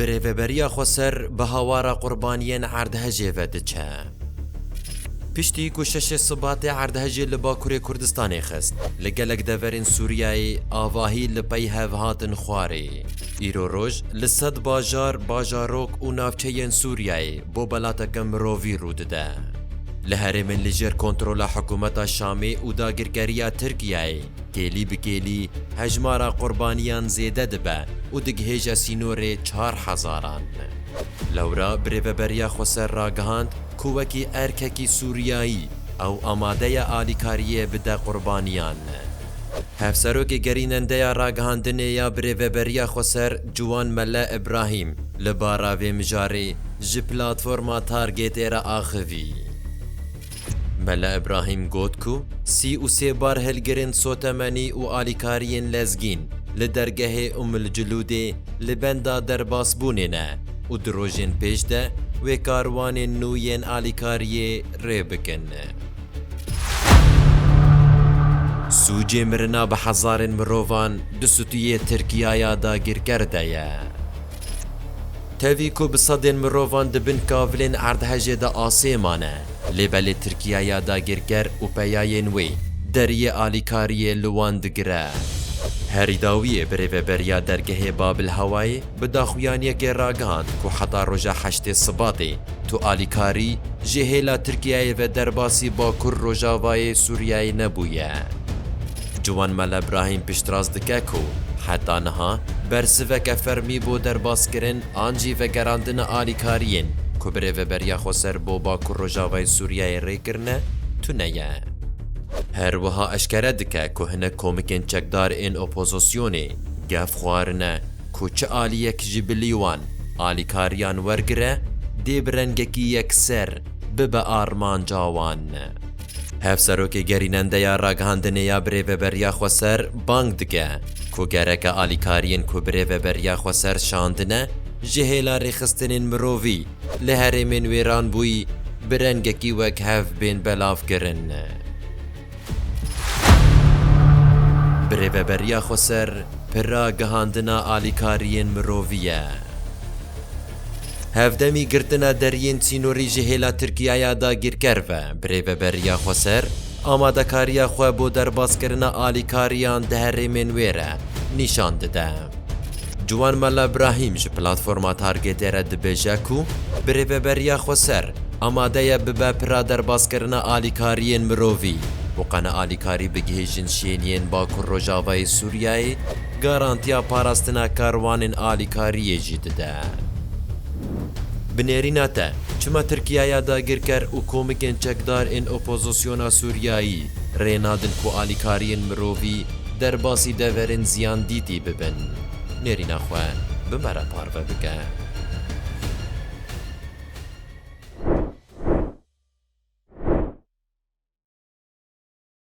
Bi rêveberiya Xweser bi hawara qurbaniyên erdhejê ve diçe. Piştî ku şeşê Sibatê erdhejê li Bakurê Kurdistanê xist, li gelek deverên Sûriyeyê avahî li pey hev hatin xwarê. Îro roj li sed bajar, bajarok û navçeyên Sûriyeyê bo belateke mirovî rû dide. Li herêmên li jêr kontrola hikûmeta Şamê û dagirkeriya Tirkiyeyê Kêlî bi kêlî hejmara qurbaniyan zêde dibe û digihêje sînorê çar hezaran. Lewra bi rêveberiya Xweser ragihand ku wekî erkekî Sûriyayî ew amade ye alîkariyê bide qurbaniyan. Hevserokê gerînendeya ragihandinê ya bi rêveberiya Xweser Ciwan Mele Îbrahîm li bara vê mijarê ji platforma Targêtê re axivî. Mele Îbrahîm got ku sî û sê barhilgirên sotemenî û alîkariyên lezgîn li dergehê Umm el Culûdê li benda derbasbûnê ne û di rojên pêş de wê karwanên nû yên alîkariyê rê bikin. Sûcê mirina bi hezarên mirovan di stûyê Tirkiyaya dagîrker de ye. Tevî ku bi sedên mirovan di bin kavilên erdhejê de asê mane, lê belê Tirkiye ya dagirker û peyayên wê deriyê alîkariyê li wan digire. Harry Dawiyê bi rêveberiya dergehê Babil Hawayê bi daxuyaniyekê ragihand ku heta roja heştê Sibatê tu alîkarî ji hêla Tirkiyeyê ve derbasî Bakur Rojavayê Sûriyeyê nebûye. Ciwan Mele Brahîm piştrast dike ku heta niha bersiveke fermî bo derbaskirin an jî vegerandina alîkariyên ku bi Rêveberiya Xweser bo Bakur Rojavayê Sûriyeyê rê kirine tune ye. Her wiha eşkere dike ku hinek komikên çekdar ên opozisyonê gef xwarine ku çi aliyek ji bilî wan alîkariyan wergire dê bi rengekî yekser bibe armanca wan. Hevserokê gerînendeya ragihandinê ya Birêveberiya Xweser bang dike ku gereke alîkariyên ku Birêveberiya Xweser şandine ji hêla rêxistinên mirovî li herêmên wêranbûyî bi rengekî wekhev bên belavkirin. Birêveberiya Xweser pir ragihandina alîkariyên mirovî ye. Hevdemî girtina deriyên sînorî ji hêla Tirkiyaya dagîrker ve bi rêveberiya Xweser, amadekariya xwe bo derbaskirina alîkariyan di herêmên wê re nîşan dide. Ciwan Mella Brahîm ji Platforma Targetê re dibêje ku bi rêveberiya Xweser amade ye bibe pira derbaskirina alîkariyên mirovî û qene alîkarî bigihîjin şêniyên Bakur Rojavayê Sûriyeyê, Garantiya parastina karwanên alîkariyê jî dide. Bi nêrîna te, çima Tirkiyaya dagirker û komikên çekdar ên opozisyona Sûriyayî rê nadin ku alîkariyên mirovî derbasî deverên ziyandîtî bibin? Nêrîna xwe bi me re parve bike.